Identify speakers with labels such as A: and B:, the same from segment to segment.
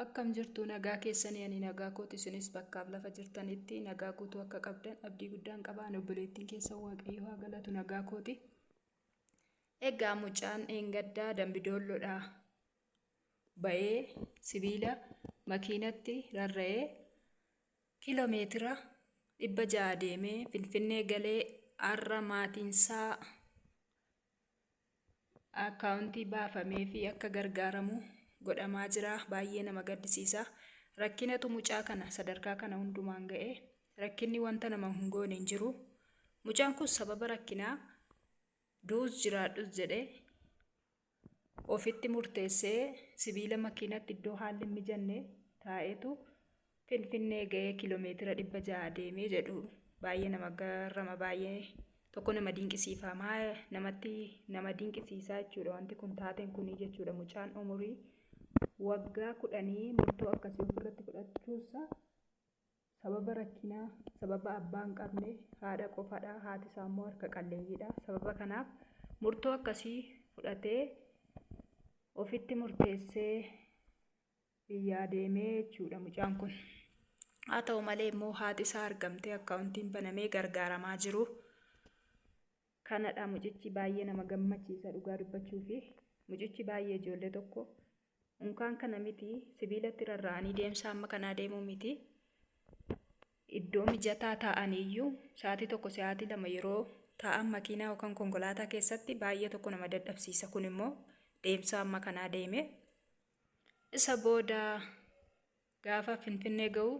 A: Akkam jirtu nagaa keessanii ani nagaa kooti isinis bakkaaf lafa jirtanitti nagaa guutuu akka qabdan abdii guddaan qaba ani obboleettiin keessa waaqayyo haa galatu nagaa kooti. Egaa mucaan eengaddaa dambidoolloodhaa ba'ee sibiila makiinatti rarra'ee kiiloo meetira dhibba ja'a deemee finfinnee galee har'a maatiinsaa Akkaawuntii baafameefii akka gargaaramu godhamaa jira. Baay'ee nama gaddisiisa. Rakkinatu mucaa kana sadarkaa kana hundumaan ga'e. Rakkinni wanta nama hin goone hin jiru. Mucaan kun sababa rakkinaa du'us jiraadhus jedhee ofitti murteessee sibiila makiinatti iddoo haalli hin mijanne taa'eetu Finfinnee ga'ee kiiloomeetira dhibba ja'a deemee jedhu baay'ee nama garrama baay'ee tokko nama dinqisiifama namatti nama dinqisiisaa jechuudha wanti kun taateen kunii jechuudha mucaan umurii waggaa kudhanii murtoo akkasii ofirratti fudhachuusaa sababa rakkinaa sababa abbaan qabne haadha qofadha haati isaa immoo harka qalleeyyiidha sababa kanaaf murtoo akkasii fudhatee ofitti murteessee biyyaa deemee jechuudha mucaan kun. Haa ta'u malee immoo haati isaa argamtee akkaawuntiin banamee gargaaramaa jiru. Kanadha mucichi baay'ee nama gammachiisa dhugaa dubbachuu fi mucichi baay'ee ijoollee tokko unkaan kana miti sibiilatti rarra'anii deemsa amma kanaa deemuu miti. Iddoo mijataa taa'anii iyyuu sa'aatii tokko sa'aatii lama yeroo taa'an makiinaa yookaan konkolaataa keessatti baay'ee tokko nama dadhabsiisa kun immoo deemsa amma kanaa deemee. Isa booda gaafa Finfinnee ga'u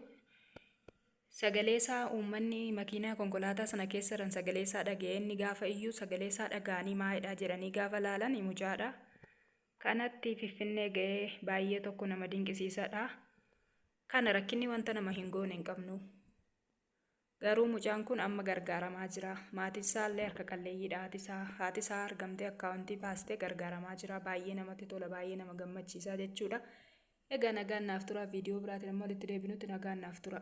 A: sagalee isaa uummanni makiinaa konkolaataa sana keessa jiran sagalee isaa dhaga'ee inni gaafa iyyuu sagalee isaa dhaga'anii maayidhaa jedhanii gaafa laalan mucaadha. Kanatti Finfinnee ga'ee baay'ee tokko nama dinqisiisadha. Kana rakkinni wanta nama hin goone hin qabnu. Garuu mucaan kun amma gargaaramaa jira. Maatiin isaa illee harka qalleeyyiidha. Haati isaa, haati isaa argamtee akkaawuntii baastee gargaaramaa jira. Baay'ee namatti tola, baay'ee nama gammachiisa jechuudha. Egaa nagaan naaf tura. Viidiyoo biraatiin amma walitti deebinutti nagaan naaf tura.